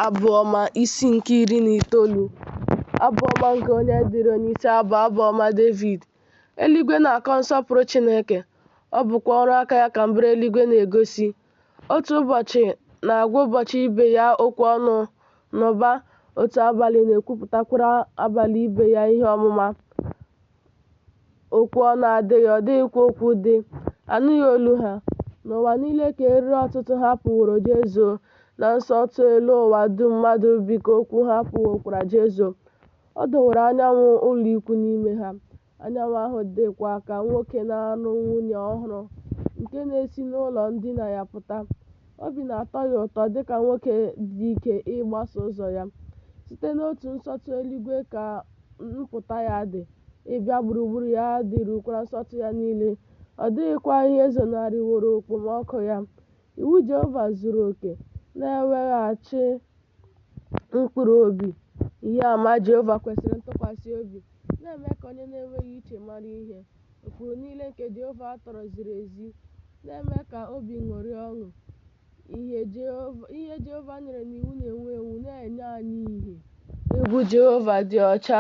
Abụ Ọma, isi nke iri na itoolu. Abụ ọma nke onye dịrị onye isi abụ abụ ọma Devid. Eluigwe na-akọ nsọpụrụ Chineke, ọ bụkwa ọrụ aka ya ka mbara eluigwe na-egosi. Otu ụbọchị na-agwa ụbọchị ibe ya okwu ọnụ n'ụba, otu abalị na-ekwupụtakwara abalị ibe ya ihe ọmụma. Okwu ọnụ adịghị, ọ dịghịkwa okwu dị, anụghị olu ha. N'ụwa niile ka eriri ọtụtụ ha pụworo jezuo, na nsọtụ elu ụwa dum mmadụ bi ka okwu ha pụwokwara jezuo. Ọ dọwara anyanwụ ụlọikwu n'ime ha, anyanwụ ahụ dịkwa ka nwoke na-alụ nwunye ọhụrụ nke na-esi n'ụlọ ndina ya pụta. Obi na-atọ ya ụtọ dị ka nwoke dị ike ịgbaso ụzọ ya. Site n'otu nsọtụ eluigwe ka mpụta ya dị, ịbịa gburugburu ya dịrukwara nsọtụ ya niile, ọ dịghịkwa ihe zonarịworo okpomọkụ ya. Iwu Jehova zuru oke na-eweghachi mkpụrụ obi. Ihe ama Jehova kwesịrị ntụkwasị obi na-eme ka onye na-enweghị uche mara ihe. Ụkpụrụ niile nke Jehova tọrọ ziri ezi na-eme ka obi ṅụrịa ọṅụ. Ihe Jehova ihe Jehova nyere n'iwu na-enwu enwu na-enye anyị ihe. Egwu Jehova dị ọcha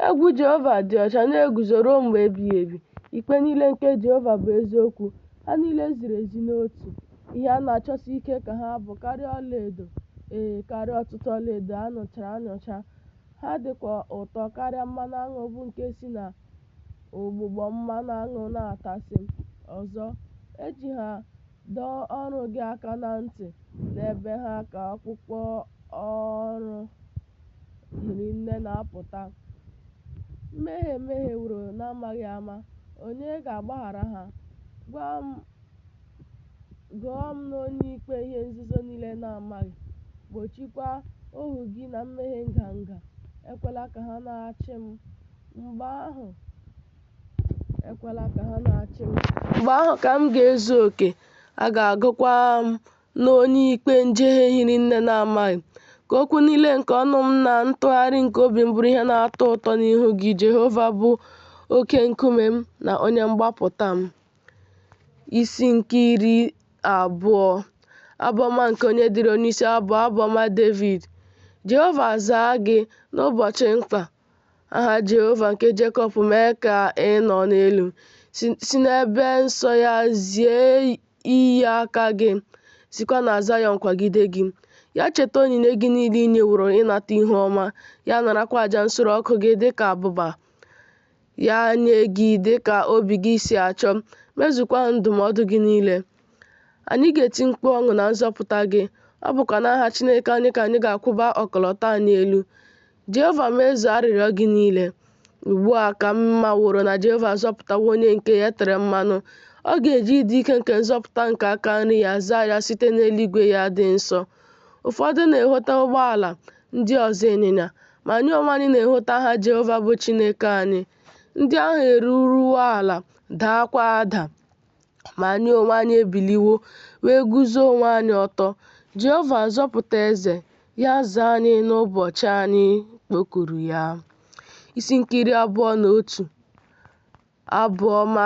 Egwu Jehova dị ọcha na-eguzo ruo mgbe ebighị ebi. Ikpe niile nke Jehova bụ eziokwu, ha niile ziri ezi n'otu. Ihe a na-achọsi ike ka ha bụ karịa ọlaedo, ee, karịa ọtụtụ ọlaedo a nụchara anụcha. Ha dịkwa ụtọ karịa mmanụ aṅụ bụ nke si na ụgbụgbọ mmanụ aṅụ na-atasị. Ọzọ, e ji ha Dọọ oru gị aka na ntị n'ebe ha ka ọkpụkpọ ọrụ hiri nne na-apụta. Mmehie e mehieworo n'amaghị ama, onye ga-agbaghara ha? Gụọ m n'onye ikpe ihe nzuzo niile na-amaghị, gbochikwa ohu gị na mmehie nganga, ekwela ka ha na-achị m. Mgbe ahụ, ekwela ka ha na-achị m mgbe ahụ ka m ga-ezu oke a ga-agụkwa m n'onye ikpe njehie hiri nne na-amaghị ka okwu niile nke ọnụ m na ntụgharị nke obi m bụrụ ihe na-atọ ụtọ n'ihu gị Jehova bụ oke nkume m na onye mgbapụta m isi nke iri abụọ abụọma nke onye dịrị onyeisi abụ abụọma Devid Jehova zaa gị n'ụbọchị mkpa Aha Jehova nke Jekọb mee ka ị nọ n'elu, si n'ebe nsọ ya zie inye aka gị, sikwa na Zayọn kwagide gị. Ya cheta onyinye gị niile i nyeworo ịnata ihu ọma, ya narakwa aja nsure ọkụ gị dị ka abụba. Ya nye gị dị ka obi gị si achọ, mezukwa ndụmọdụ gị niile. Anyị ga-eti mkpu ọṅụ na nzọpụta gị, ọ bụkwa n'aha Chineke anyị ka anyị ga-akwụba ọkọlọtọ anyị elu. Jehova mezuo arịrịọ gị niile. Ugbu a ka m maworo na Jehova azọpụtawo onye nke ya tere mmanụ, ọ ga-eji ịdị ike nke nzọpụta nke aka nri ya zaa ya site n'eluigwe ya dị nsọ. Ụfọdụ na-ehota ụgbọala, ndị ọzọ ịnyịnya, ma anyị onwe anyị na-ehota aha Jehova bụ Chineke anyị. Ndị ahụ eruruwo ala, daakwa ada. Ma anyị onwe anyị ebiliwo, wee guzo onwe anyị ọtọ, Jehova, zọpụta eze, ya zaa anyị n'ụbọchị anyị kpọkuru ya. Isi nke iri abụọ na otu. Abụ ọma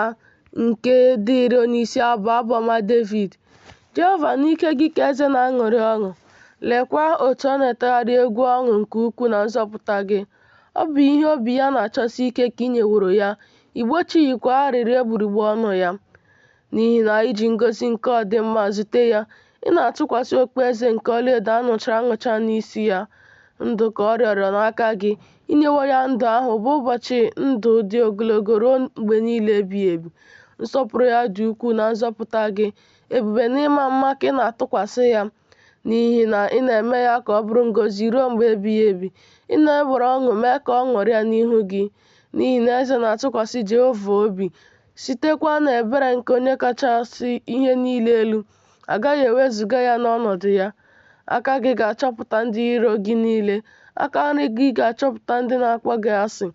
nke dịịrị onyeisi abụ abụ ọma Devid. Jehova n'ike gị ka eze na-aṅụrị ọṅụ, lekwa otu ọ na-etegharị egwu ọṅụ nke ukwuu na nzọpụta gị. Ọ bụ ihe obi ya na-achọsi ike ka i nyeworo ya, i gbochighịkwa arịrịọ egbugbere ọnụ ya. N'ihi na i ji ngọzi nke ọdịmma zute ya, ị na-atụkwasị okpueze nke ọlaedo a nụchara anụcha n'isi ya. Ndụ ka ọ rịọrọ n'aka gị, i nyewo ya ndụ ahụ bụ ụbọchị ndụ dị ogologo ruo mgbe niile ebighị ebi. Nsọpụrụ ya dị ukwuu na nzọpụta gị, ebube na ịma mma ka ị na-atụkwasị ya. n'ihi na ị na-eme ya ka ọ bụrụ ngọzi ruo mgbe ebighị ebi. Ị na-ewere ọṅụ mee ka ọ ṅụrịa n'ihu gị, n'ihi na eze na-atụkwasị Jehova obi, sitekwa n'ebere nke Onye kachasị ihe niile elu, a gaghị ewezuga ya n'ọnọdụ ya. Aka gị ga-achọpụta ndị iro gị niile, aka nri gị ga-achọpụta ndị na-akpọ gị asị,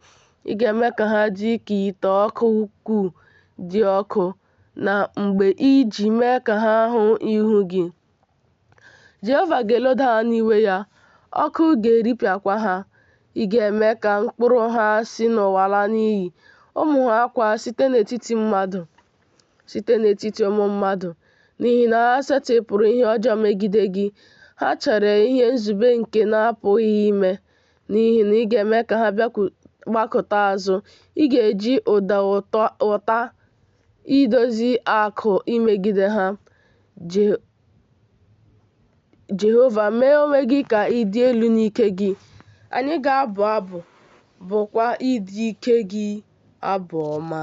ị ga-eme ka ha dị ka ite ọkụ ukwuu dị ọkụ. na mgbe i ji mee ka ha hụ ihu gị. Jehova ga-eloda ha n'iwe ya, ọkụ ga-eripịakwa ha. Ị ga-eme ka mkpụrụ ha si n'ụwa laa n'iyi, ụmụ ha kwa site n'etiti mmadụ, site n'etiti ụmụ mmadụ, n'ihi na ha setịpụrụ ihe ọjọọ megide gị, ha chere ihe nzube nke na-apụghị ime, n'ihi na ị ga-eme ka ha gbakụta azụ, ị ga-eji ụdọ ụta idozi akụ imegide ha. Jehova, mee onwe gị ka ị dị elu n'ike gị, anyị ga-abụ abụ, bụkwa ịdị ike gị abụ ọma.